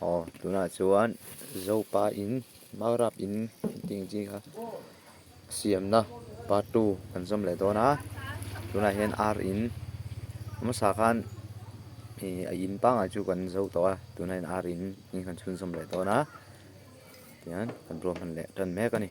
Aw tunah chuan Zopa in Maurap in intih chi kha siamna part two kan zawm leh dawn a tunah hian ar in hmasa khan ihh a in pangai chu kan zo tawh a tunah hian ar in in han chhunzawm leh dawn a tian kan ruahman leh tan mek a ni.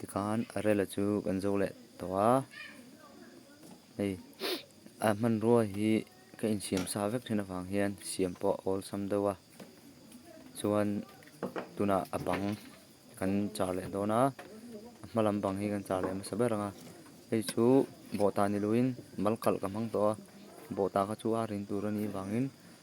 Tikhan a rela chu kan zo leh tawh a, hei a hmanrua hi ka insiam sa vek thin avang hian siam pawh a awlsam deuh a, chuan tunah a bang kan char leh dawn a, a hma lam bang hi kan char leh hmasa ber ang a, hei chu bawhta ni loin mal kalh ka hmang tawh a, bawhta kha chu a rin tur a nih vangin--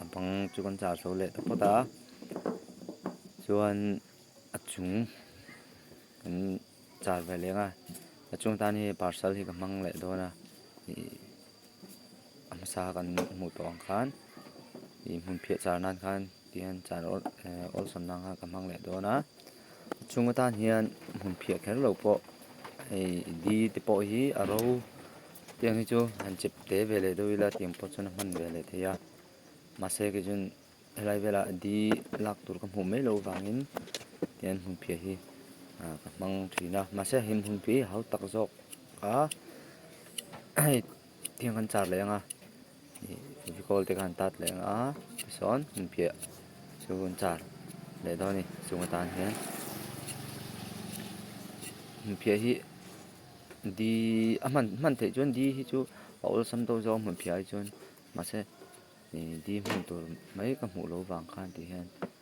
A bang chu kan char zo leh ta phawt a, chuan a chung kan char ve leng a, a chung tan hi parcel hi ka hmang leh dawn a, ih a hmasa kan hmuh tawh ang khan ih hmunphiah char nan khan tihian char awlsam nan khan ka hmang leh dawn a. Chunga tan hian hmun phiah kher lo pawh hei di te pawh hi a ro tiang hi chu han chep te ve leh deuh ila tiang pawh chuan a hman ve leh thei a, mahse kei chuan helai vela di lak tur ka hmuh mai loh vangin tian hmun phiah hi ka hmang thin a, mahse hei hmun phiah hi hautak zawk a hei tiang kan char leh ang a. Fevicol te khan tat leh ang a, tichuan hun piah chu hun char leh dawn a ni chunga tan hian hun phiah hi di a hman hman theih chuan di hi chu a awlsam deuh zauh a hmun phiah hi chuan mahse ih di hman tur mai ka hmuh lo vang khan tih hian.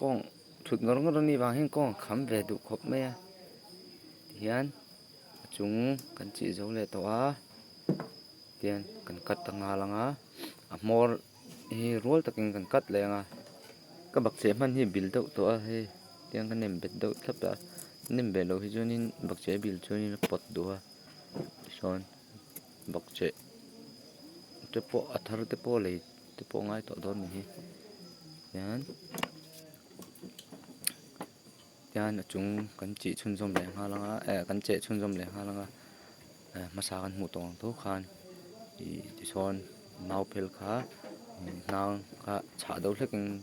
Kawng thut ngawr ngawr ami vang hian kawng a kham ve duh khawp mai a tihian a chung kan chih zo leh tawh a tihian kan cut a nghal ang a a hmawr hi rual takin kan cut leh ang a ka bakcheh hman hi bil deuh tawh a hei tiang ka nem bet deuh tlat a nem ve loh hi chuan in bakcheh a bil chuan in a pawt duh a tisawn. Bakcheh te pawh a thar te pawh lei te pawh a ngai tawh dawn ni hi tian tian a chung kan chi chhunzawm leh nghal anga eh kan che chhunzawm leh nghal anga eh hmasa kan hmuh tawh ang tho khan ih tichuan mau phel kha hnang kha chhah do hlekin--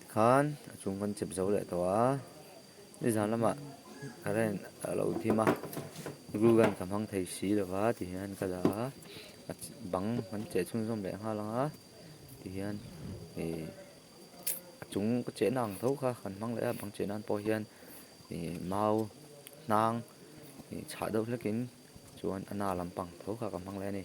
Tikhan a chhung kan chep zo leh tawh a, ni zan lamah current a lo dim a, glue gun ka hmang thei si lo va ti hian ka la a, a bang kan cheh chhun zawm leh nghal ang a ti hian ih a chung ka cheh na ang tho kha kan hmang leh a, bang cheh nan pawh hian ih mau hnang ih chhah deuh hlekin chuan a na lampang tho kha ka hmang leh a ni.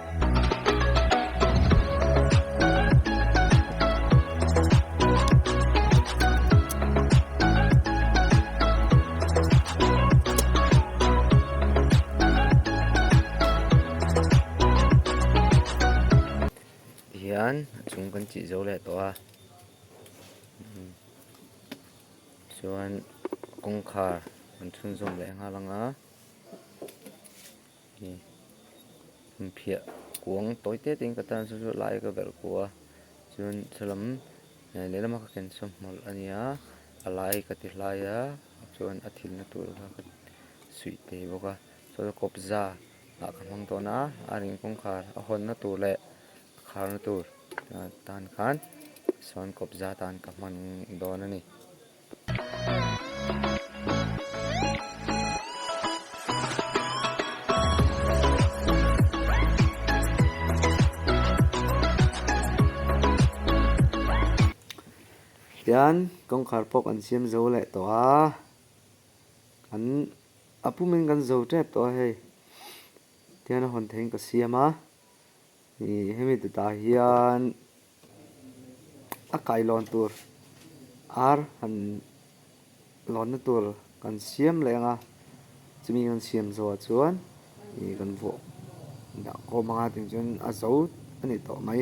hian a chung kan chih zo leh tawh a chuan kawngkhar an chhunzawm leh nghal anga. Hei hi phiah kuang tawi tete in ka tan sawi sawi a lai ka belh kuh a chuan thla lehlam a ka ken chawm hmawlh a nia a lai ka ti hlai a chuan a thil na tur kha ka suih teh bawk a saw kawpza ah ka hmang tawn a a ring kawngkhar a hawn na tur leh a khar na tur tan khan sawn kawpza tan ka hman dawn a ni. Tichuan, kawngkhar pawk an siam zo leh tawh a, an a pum in kan zo ṭep tawh a hei, tichuan a hawn theihin ka siam a. Hemi teta hian a kailawn tur ar han lawnna tur kan siam leh ang a, chumi kan siam zawhah chuan kan vawhdah khawm ang a, tichuan a zo a ni tawh mai.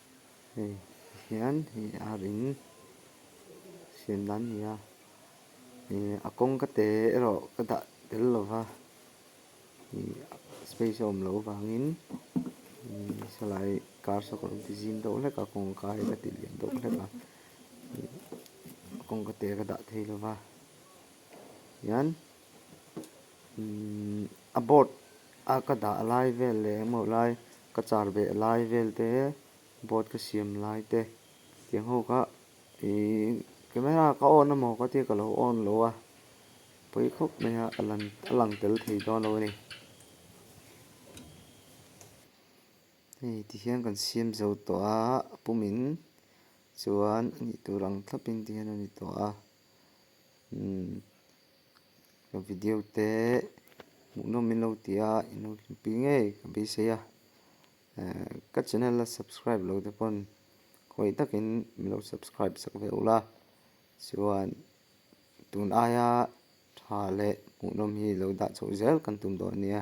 Hei hian hei ar in siam dan a ni a, ih a kawng ka te erawh ka dah tel lo va, ih space a awm loh avangin ih salai kar saw ka rawn ti zim deuh hlek a, a kawng kar hi ka tih liam deuh hlek a, ih a kawng ka te ka dah thei lo va, tihian. a board a ka dah lai vel leh engmawh lai ka char beh lai vel te board ka siam lai te tiang ho kha ihh camera ka on a maw ka tia ka lo on loh a pawi khawp mai a a lang tel thei dawn lo a ni hei tihian kan siam zo tawh a a pum in chuan a nih tur ang thlap in tihian a ni tawh a. ka video te hmuh nawm in lo ti a i nawr thin pi ngei ka beisei a ka channel a subscribe lo te pawn khawih tak in mi lo subscribe chak ve ula chuan tun aia tha leh hmuh nawm hi lo dah chauh zel kan tum dawn ania.